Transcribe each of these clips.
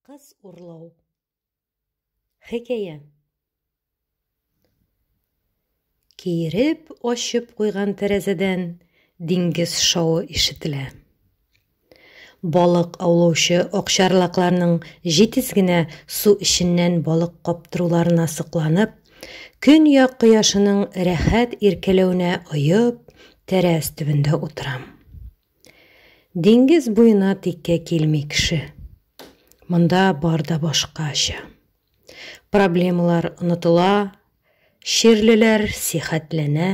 Кыз урлау. Хикәя. Киереп ачып куйган тәрәзәдән диңгез шауы ишетелә. Балык аулаучы акчарлакларның җитез генә су эченнән балык каптыруларына сокланып, көньяк кояшының рәхәт иркәләвенә оеп, тәрәз төбендә утырам. Диңгез буена тиккә килми кеше. Монда бар да башкача. Проблемалар онытыла, чирлеләр сихәтләнә.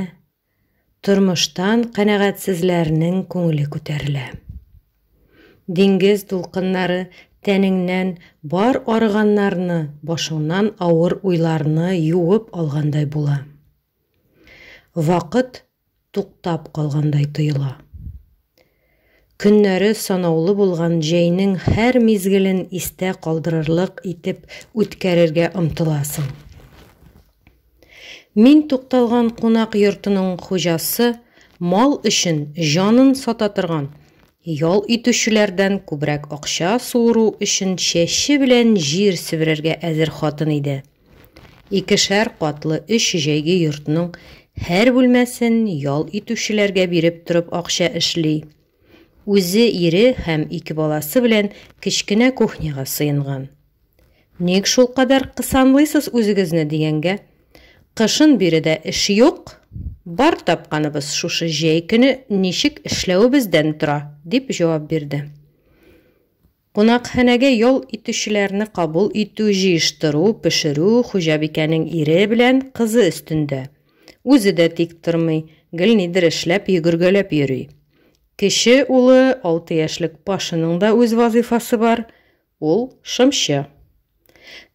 Тормыштан канәгатьсезләрнең күңеле күтәрелә. Диңгез дулкыннары тәнеңнән бар арыганнарны, башыңнан авыр уйларны юып алгандай була. Вакыт туктап калгандай тоела. Көннәре санаулы булган җәйнең һәр мизгелен истә калдырырлык итеп үткәрергә омтыласың. Мин тукталган кунак йортының хуҗасы мал өчен җанын сата торган, ял итүчеләрдән күбрәк акча суыру өчен чәче белән җир себерергә әзер хатын иде. Икешәр катлы өч җәйге йортның һәр бүлмәсен ял итүчеләргә биреп торып акча эшли. Үзе ире һәм ике баласы белән кечкенә кухняга сыенган. Ник шулкадәр кысанлыйсыз үзегезне дигәнгә, Кышын биредә эш юк, бар тапканыбыз шушы җәй көне ничек эшләвебездән тора, дип җавап бирде. Кунакханәгә ял итүчеләрне кабул итү, җыештыру, пешерү хуҗабикәнең ире белән кызы өстендә. Үзе дә тик тормый, гел нидер эшләп, йөгергәләп йөри. Кече улы, алты яшьлек Пашаның да үз вазыйфасы бар, ул, шымчы.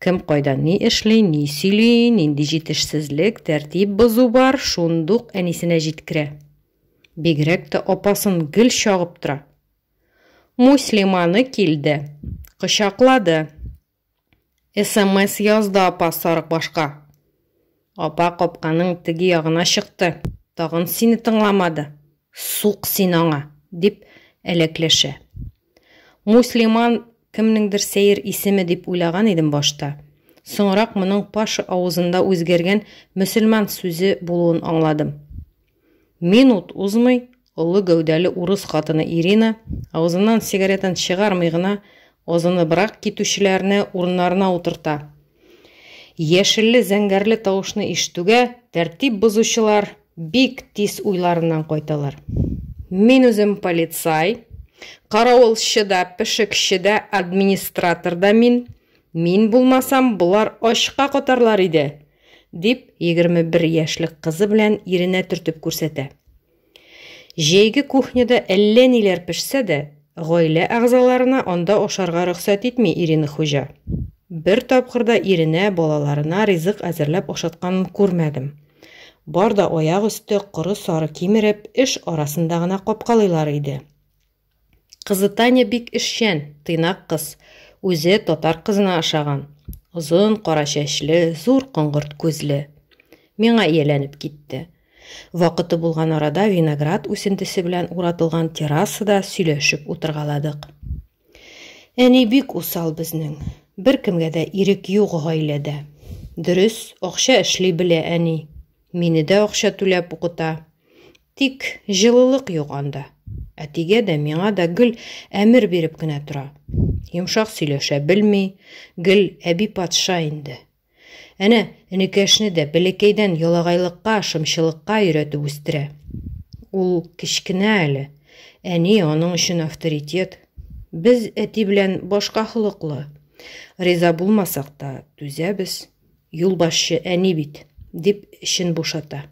Кем кайда ни эшли, ни сөйли, нинди җитешсезлек, тәртип бозу бар, шундук әнисенә җиткерә. Бигрәк тә апасын гел чагып тора. Муслиманы килде, кочаклады. Смс язды апа сарыкбашка. Апа капканың теге ягына чыкты, тагын сине тыңламады. Сук син аңа, дип әләкләшә. Муслиман кемнеңдер сәер исеме дип уйлаган идем башта. Соңрак моның Паша авызында үзгәргән мөселман сүзе булуын аңладым. Минут узмый, олы гәүдәле урыс хатыны Ирина, авызыннан сигаретын чыгармый гына, азыныбрак китүчеләрне урыннарына утырта. Яшелле-зәңгәрле тавышны ишетүгә, тәртип бозучылар бик тиз уйларыннан кайталар. Мин үзем полицай, каравылчы да, пешекче дә, администратор да мин. Мин булмасам, болар ачка катарлар иде! дип, 21 яшьлек кызы белән иренә төртеп күрсәтә. Җәйге кухняда әллә ниләр пешсә дә, гаилә әгъзаларына анда ашарга рөхсәт итми Ирина хуҗа. Бер тапкыр да иренә, балаларына ризык әзерләп ашатканын күрмәдем. Бар да аяк өсте коры сары кимереп, эш арасында гына капкалыйлар иде. Кызы Таня бик эшчән, тыйнак кыз. Үзе татар кызына ошаган. Озын, кара чәчле, зур коңгырт күзле. Миңа ияләнеп китте. Вакыты булган арада виноград үсентесе белән уратылган террасада сөйләшеп утыргаладык. Әни бик усал безнең. Беркемгә дә ирек юк гаиләдә. Дөрес, акча эшли белә әни. Мине дә акча түләп укыта. Тик җылылык юк анда. Әтигә дә, миңа да гел әмер биреп кенә тора. Йомшак сөйләшә белми, гел әби патша инде. Әнә, энекәшне дә бәләкәйдән ялагайлыкка, шымчылыкка өйрәтеп үстерә. Ул кечкенә әле, әни аның өчен авторитет. Без әти белән башка холыклы. Риза булмасак та, түзәбез. Юлбашчы әни бит, дип эчен бушата.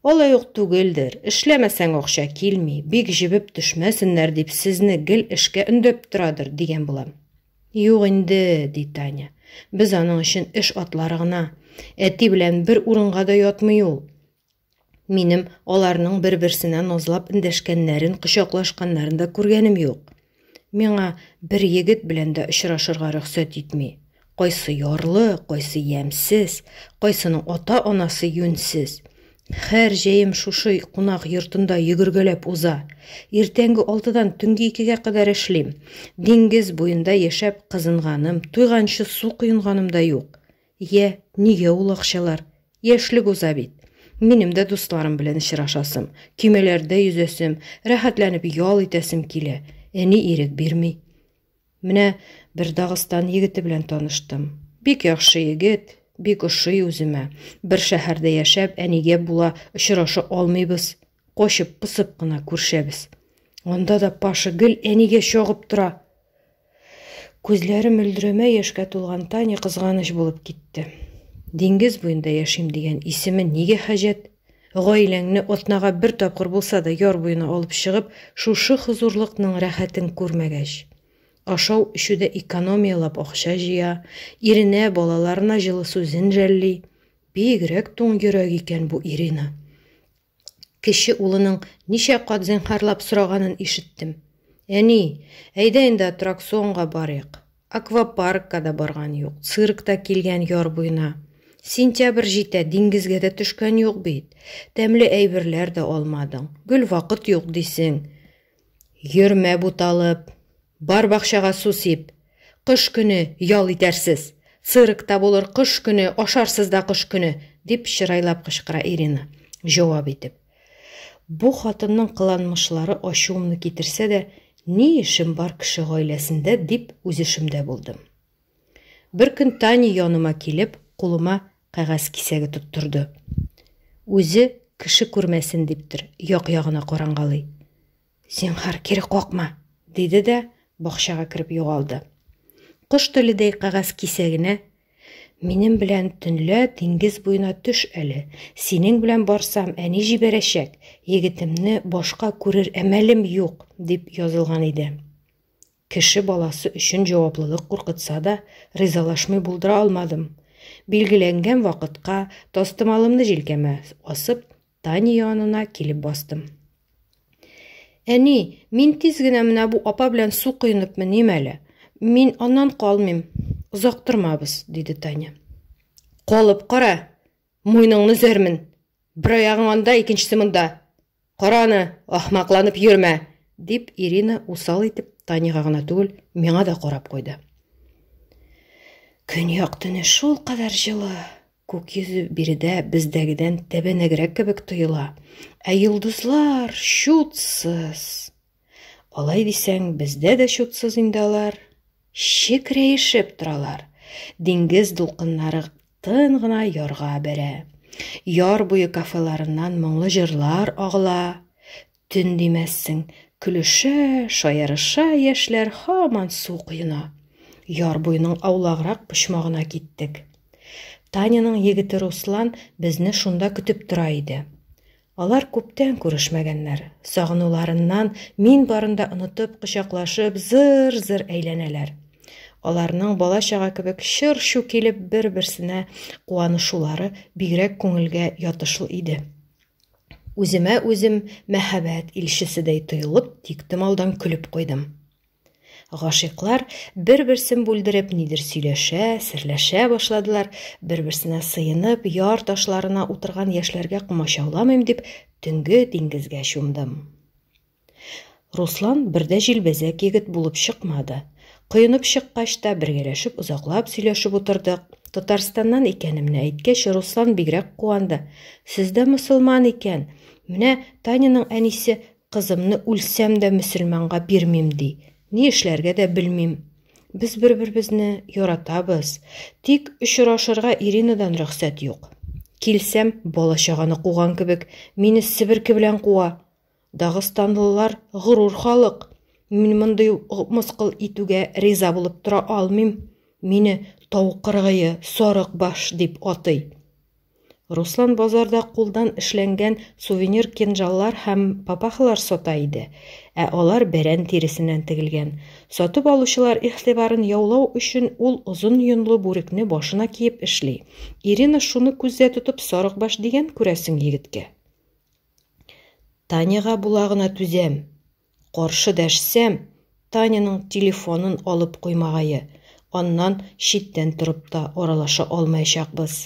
Алай ук түгелдер, эшләмәсәң акча килми, бик җебеп төшмәсеннәр дип сезне гел эшкә өндәп торадыр, дигән булам. Юк инде, ди Таня. Без аның өчен эш атлары гына. Әти белән бер урынга да ятмый ул. Минем аларның бер-берсенә назлап эндәшкәннәрен, кочаклашканнарын да күргәнем юк. Миңа бер егет белән дә очрашырга рөхсәт итми. Кайсы ярлы, кайсы ямьсез, кайсының ата-анасы юньсез. Хәр җәем шушы кунак йортында йөгергәләп уза. Иртәнге алтыдан төнге икегә кадәр эшлим. Диңгез буенда яшәп кызынганым, туйганчы су коенганым да юк. Йә, нигә ул акчалар? Яшьлек уза бит. Минем дә дусларым белән очрашасым, көймәләрдә йөзәсем, рәхәтләнеп ял итәсем килә. Әни ирек бирми. Менә бер Дагыстан егете белән таныштым. Бик яхшы егет, бик ошый үземә. Бер шәһәрдә яшәп, әнигә була очраша алмыйбыз. Кочып, пысып кына күршәбез. Анда да Паша гел әнигә чагып тора. Күзләре мөлдерәмә яшькә тулган Таня кызганыч булып китте. Диңгез буенда яшим дигән исеме нигә хаҗәт? Гаиләңне атнага бер тапкыр булса да яр буена алып чыгып, шушы хозурлыкның рәхәтен күрмәгәч. Ашау, эчүдә экономияләп акча җыя, иренә, балаларына җылы сүзен жәлли. Бигрәк туң йөрәк икән бу Ирина. Кече улының ничә кат зинһарлап сораганын ишеттем. Әни, әйдә инде аттракционга барыйк. Аквапаркка да барган юк, цирк та килгән яр буена. Сентябрь җитә, диңгезгә дә төшкән юк бит. Тәмле әйберләр дә алмадың. Гел вакыт юк дисең. Йөрмә буталып. Бар бакчага су сип. Кыш көне ял итәрсез. Цирк та булыр кыш көне, ашарсыз да кыш көне, дип чырайлап кычкыра Ирина, җавап итеп. Бу хатынның кыланмышлары ачуымны китерсә дә, ни эшем бар кеше гаиләсендә, дип үзешемдә булдым. Беркөн Таня яныма килеп, кулыма кәгазь кисәге тоттырды. Үзе, кеше күрмәсен диптер, як-ягына карангалый. Зинһар, кире какма! диде дә бакчага кереп югалды. Кош теледәй кәгазь кисәгенә Минем белән төнлә диңгез буена төш әле. Синең белән барсам, әни җибәрәчәк. Егетемне башка күрер әмәлем юк, дип язылган иде. Кеше баласы өчен җаваплылык куркытса да, ризалашмый булдыра алмадым. Билгеләнгән вакытка, тастымалымны җилкәмә асып, Таня янына килеп бастым. Әни, мин тиз генә менә бу апа белән су коенып меним әле. Мин аннан калмыйм. Озак тормабыз, диде Таня. Калып кара, муйныңны зәрмен. Бер аягың анда, икенчесе монда. Караны, ахмакланып йөрмә, дип Ирина усал итеп Таняга гына түгел, миңа да карап куйды. Көньяк төне шул кадәр җылы. Күк йөзе биредә бездәгедән тәбәнәгрәк кебек тоела. Ә йолдызлар чутсыз. Алай дисәң, бездә дә чутсыз инде алар. Чекрәешеп торалар. Диңгез дулкыннары тын гына ярга бәрә. Яр буе кафеларыннан моңлы җырлар агыла. Төн димәссең, көлешә, шаярыша яшьләр һаман су коена. Яр буеның аулаграк почмагына киттек. Таняның егете Руслан безне шунда көтеп тора иде. Алар күптән күрешмәгәннәр. Сагынуларыннан мин барында онытып, кочаклашып, зыр-зыр әйләнәләр. Аларның бала-чага кебек чыр-чу килеп бер-берсенә куанышулары бигрәк күңелгә ятышлы иде. Үземә үзем мәһабәт илчеседәй тоелып, тиктемалдан көлеп куйдым. Гашыйклар бер-берсен бүлдереп нидер сөйләшә, серләшә башладылар, бер-берсенә сыенып, яр ташларына утырган яшьләргә комачауламыйм дип, төнге диңгезгә чумдым. Руслан бер дә җилбәзәк егет булып чыкмады. Коенып чыккач та бергәләшеп озаклап сөйләшеп утырдык. Татарстаннан икәнемне әйткәч, Руслан бигрәк куанды. Сез дә мөселман икән. Менә Таняның әнисе кызымны үлсәм дә мөселманга бирмим ди. Ни эшләргә дә белмим. Без бер-беребезне яратабыз. Тик очрашырга Иринадан рөхсәт юк. Килсәм, бала-чаганы куган кебек, мине себерке белән куа. Дагыстанлылар горур халык. Мин мондый мыскыл итүгә риза булып тора алмыйм. Мине тау кыргые, сарык баш дип атый. Руслан базарда кулдан эшләнгән сувенир кинжаллар һәм папахалар сата иде, ә алар бәрән тиресеннән тегелгән. Сатып алучылар игътибарын яулау өчен ул озын йонлы бүрекне башына киеп эшли. Ирина шуны күздә тотып сарыкбаш дигән күрәсең егеткә. Таняга була гына түзәм. Каршы дәшсәм, Таняның телефонын алып куймагае, аннан читтән торып та аралаша алмаячакбыз.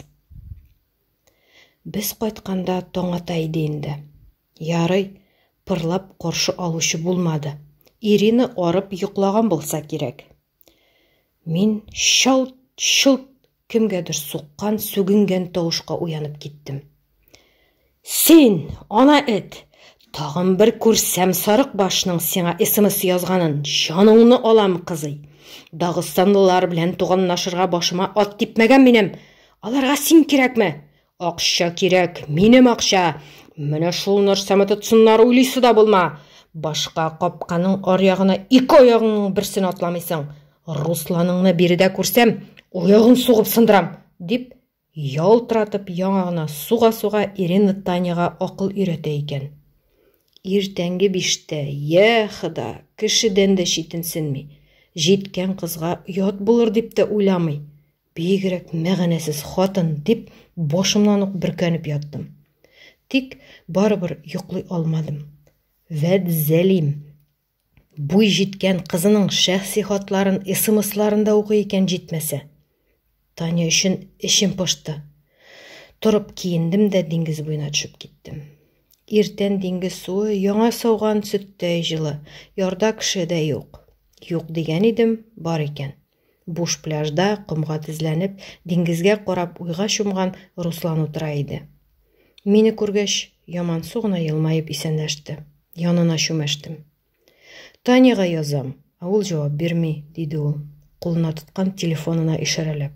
Без кайтканда таң ата иде инде. Ярый, пырлап каршы алучы булмады. Ирины арып йоклаган булса кирәк. Мин чалт, чолт кемгәдер суккан, сүгенгән тавышка уянып киттем. Син, ана эт, тагын бер күрсәм сарык башның сиңа смс язганын, җаныңны алам, кызый. Дагыстанлылар белән туганлашырга башыма ат типмәгән минем. Аларга син кирәкме? Акча кирәк, минем акча! Менә шул нәрсәме тотсыннар уйлыйсы да булма! Башка капканың аръягына ике аягыңның берсен атламыйсың! Русланыңны биредә күрсәм, аягын сугып сындырам! дип, ялтыратып яңа гына суга-суга Ирина Таняга акыл өйрәтә икән. Иртәнге биштә, йә, хода, кешедән дә читенсенми, җиткән кызга оят булыр дип тә уйламый, Бигрәк мәгънәсез хатын, дип, башымнан ук бөркәнеп яттым. Тик барыбер йоклый алмадым. Вәд Зәлим буй җиткән кызының шәхси хатларын СМСларында укый икән җитмәсә. Таня өчен эчем пошты. Торып киендем дә диңгез буена төшеп киттем. Иртән диңгез суы яңа сауган сөттәй җылы, ярда кеше дә юк. Юк дигән идем, бар икән. Буш пляжда, комга тезләнеп, диңгезгә карап уйга чумган Руслан утыра иде. Мине күргәч, ямансу гына елмаеп исәнләште. Янына чүмәштем. Таняга язам, ә ул җавап бирми, диде ул, кулына тоткан телефонына ишарәләп.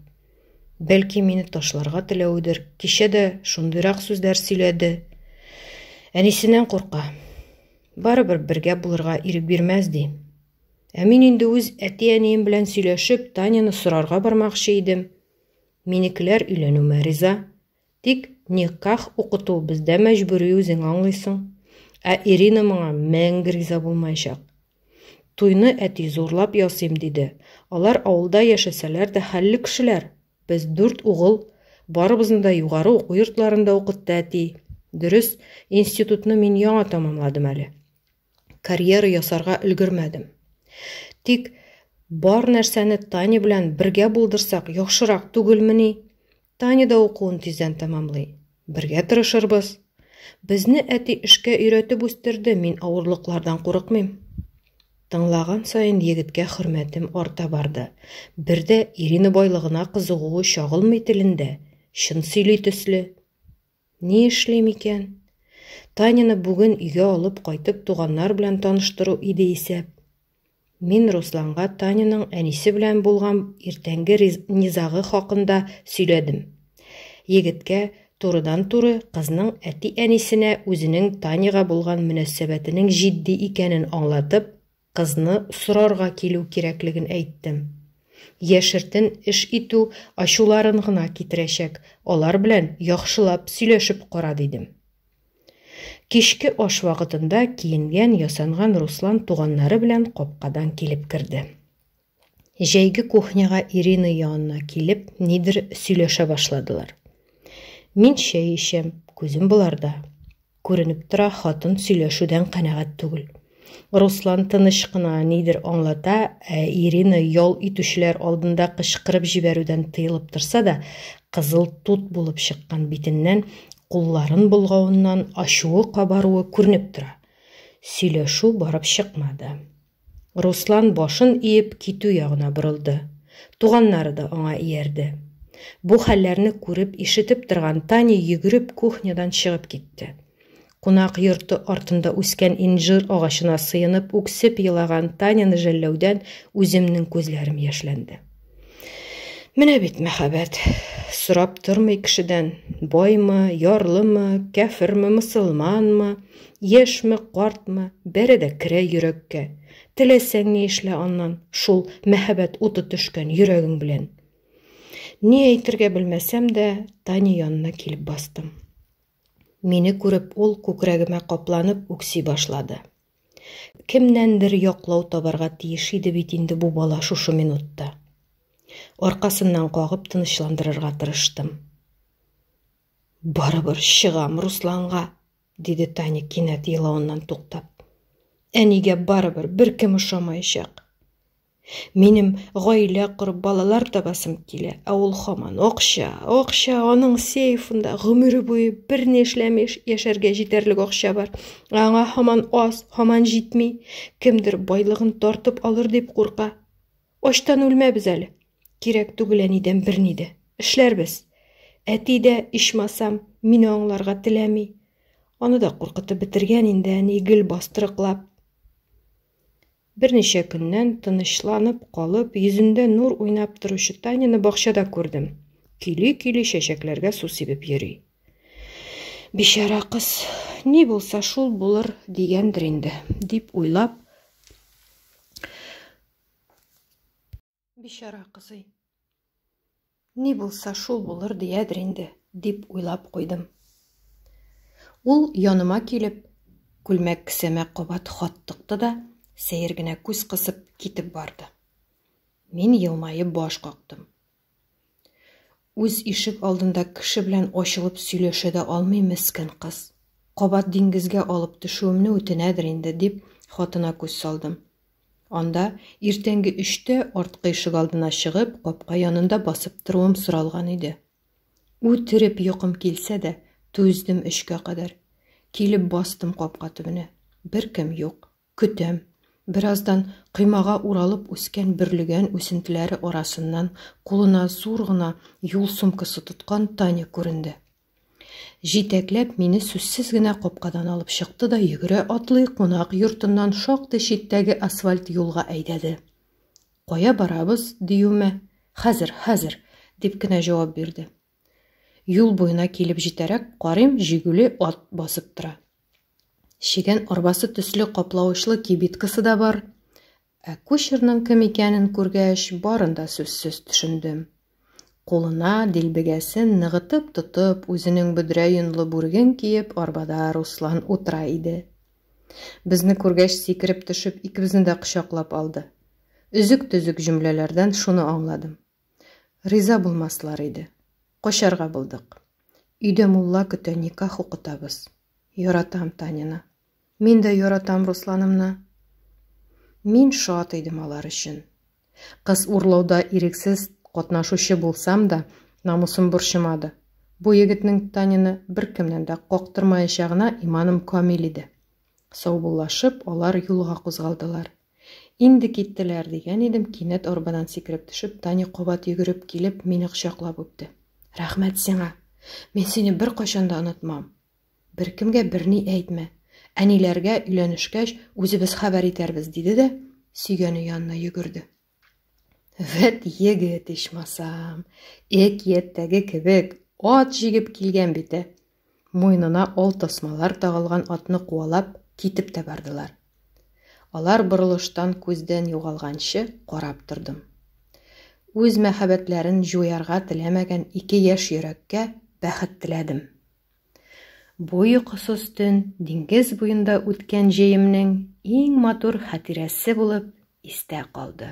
Бәлки мине ташларга теләведер, кичә дә шундыйрак сүзләр сөйләде. Әнисеннән курка. Барыбер бергә булырга ирек бирмәс, ди. Ә мин инде үз әти-әнием белән сөйләшеп, Таняны сорарга бармакчы идем. Минекеләр өйләнүемә риза. Тик никах укыту бездә мәҗбүри үзең аңлыйсың. Ә Ирина моңа мәңге риза булмаячак. Туйны әти зурлап ясыйм диде. Алар авылда яшәсәләр дә хәлле кешеләр. Без дүрт угыл, барыбызны да югары уку йортларында укытты әти. Дөрес, институтны мин яңа тәмамладым әле. карьера ясарга өлгермәдем. Тик бар нәрсәне Таня белән бергә булдырсак, яхшырак түгелмени? Таня да укуын тиздән тәмамлый. Бергә тырышырбыз. Безне әти эшкә өйрәтеп үстерде, мин авырлыклардан курыкмыйм. Тыңлаган саен егеткә хөрмәтем арта барды. Бердә Ирина байлыгына кызыгуы чагылмый телендә, чын сөйли төсле. Ни эшлим икән? Таняны бүген өйгә алып кайтып туганнар белән таныштыру иде исәп. Мин Русланга Таняның әнисе белән булган иртәнге низагы хакында сөйләдем. Егеткә турыдан-туры кызның әти-әнисенә үзенең Таняга булган мөнәсәбәтенең җитди икәнен аңлатып, Кызны сорарга килү кирәклеген әйттем. Яшертен эш итү ачуларын гына китерәчәк, алар белән яхшылап сөйләшеп кара, дидем. Кичке аш вакытында киенгән-ясанган Руслан туганнары белән капкадан килеп керде. Җәйге кухняга Ирина янына килеп, нидер сөйләшә башладылар. Мин чәй эчәм, күзем боларда. Күренеп тора, хатын сөйләшүдән канәгать түгел. Руслан тыныч кына нидер аңлата, ә Ирина ял итүчеләр алдында кычкырып җибәрүдән тыелып торса да, кызыл тут булып чыккан битеннән, кулларын болгавыннан ачуы кабаруы күренеп тора. Сөйләшү барып чыкмады. Руслан башын иеп китү ягына борылды. Туганнары да аңа иярде. Бу хәлләрне күреп, ишетеп торган Таня йөгереп кухнядан чыгып китте. Кунак йорты артында үскән инжир агачына сыенып үксеп елаган Таняны жәлләүдән үземнең күзләрем яшьләнде. Менә бит мәхәббәт. Сорап тормый кешедән, Бойма, ярлыма, кәферме, мусулманмы, яшьме, картмы, бәрә дә керә йөрәккә. Теләсәң ни эшлә аннан, шул мәхәббәт уты төшкән йөрәгең белән. Ни әйтергә белмәсәм дә, Таня янына килеп бастым. Мине күреп, ул күкрәгемә капланып үкси башлады. Кемнәндер яклау табарга тиеш иде бит инде бу бала шушы минутта. Аркасыннан кагып тынычландырырга тырыштым. Барыбер чыгам Русланга, диде Таня кинәт елавыннан туктап. Әнигә барыбер беркем ошамаячак. Минем гаилә корып, балалар табасым килә, ә ул хаман акча, акча, аның сейфында гомере буе берни эшләми яшәргә җитәрлек акча бар. Аңа хаман аз, хаман җитми. Кемдер байлыгын тартып алыр дип курка. Ачтан үлмәбез әле. Кирәк түгел әнидән берни дә. Эшләрбез. Әти дә, ичмасам, мине аңларга теләми. Аны да куркытып бетергән инде әни гел бастырыклап. Берничә көннән, тынычланып калып, йөзендә нур уйнап торучы Таняны бакчада күрдем. Көйли-көйли чәчәкләргә су сибеп йөри. Бичара кыз, ни булса шул булыр дигәндер инде, дип уйлап, Бичара кызый. Ни булса, шул булыр диядер инде, дип уйлап куйдым. Ул яныма килеп, күлмәк кесәмә кабат хат тыкты да, сәер генә күз кысып китеп барды. Мин елмаеп баш кактым. Үз ишек алдында кеше белән ачылып сөйләшә дә алмый мескен кыз. Кабат диңгезгә алып төшүемне үтенәдер инде, дип, хатына күз салдым. Анда иртәнге өчтә арткы ишек алдына чыгып, капка янында басып торуым соралган иде. Үтереп йокым килсә дә, түздем өчкә кадәр. Килеп бастым капка төбенә. Беркем юк. Көтәм. Бераздан коймага уралып үскән бөрлегән үсентеләре арасыннан кулына зур гына юл сумкасы тоткан Таня күренде. Җитәкләп мине сүзсез генә капкадан алып чыкты да йөгерә атлый кунак йортыннан шактый читтәге асфальт юлга әйдәде. Кая барабыз, диюемә, хәзер, хәзер, дип кенә җавап бирде. Юл буена килеп җитәрәк, карыйм, җигүле ат басып тора. Чегән арбасы төсле каплавычлы кибиткасы да бар. Ә кучерның кем икәнен күргәч, барын да сүзсез төшендем. Кулына дилбегәсен ныгытып тотып, үзенең бөдрә йонлы бүреген киеп, арбада Руслан утыра иде. Безне күргәч, сикереп төшеп, икебезне дә кочаклап алды. Өзек-төзек җөмләләрдән шуны аңладым. Риза булмаслар иде. Качарга булдык. Өйдә мулла көтә, никах укытабыз. Яратам Танины. Мин дә яратам Русланымны. Мин шат идем алар өчен. Кыз урлауда ирексез катнашучы булсам да, намусым борчымады. Бу егетнең Танины беркемнән дә кактырмаячагына иманым камил иде. Саубуллашып, алар юлга кузгалдылар. Инде киттеләр, дигән идем, кинәт арбадан сикереп төшеп, Таня кабат йөгереп килеп, мине кочаклап үпте. Рәхмәт сиңа! Мин сине беркайчан да онытмам. Беркемгә берни әйтмә. Әниләргә өйләнешкәч, үзебез хәбәр итәрбез, диде дә, сөйгәне янына йөгерде. Вәт егет, ичмасам, әкияттәге кебек, ат җигеп килгән бит, ә. Муенына ол тасмалар тагылган атны куалап, китеп тә бардылар. Алар борылыштан күздән югалганчы карап тордым. Үз мәхәббәтләрен җуярга теләмәгән ике яшь йөрәккә бәхет теләдем. Бу йокысыз төн диңгез буенда үткән җәемнең иң матур хатирәсе булып истә калды.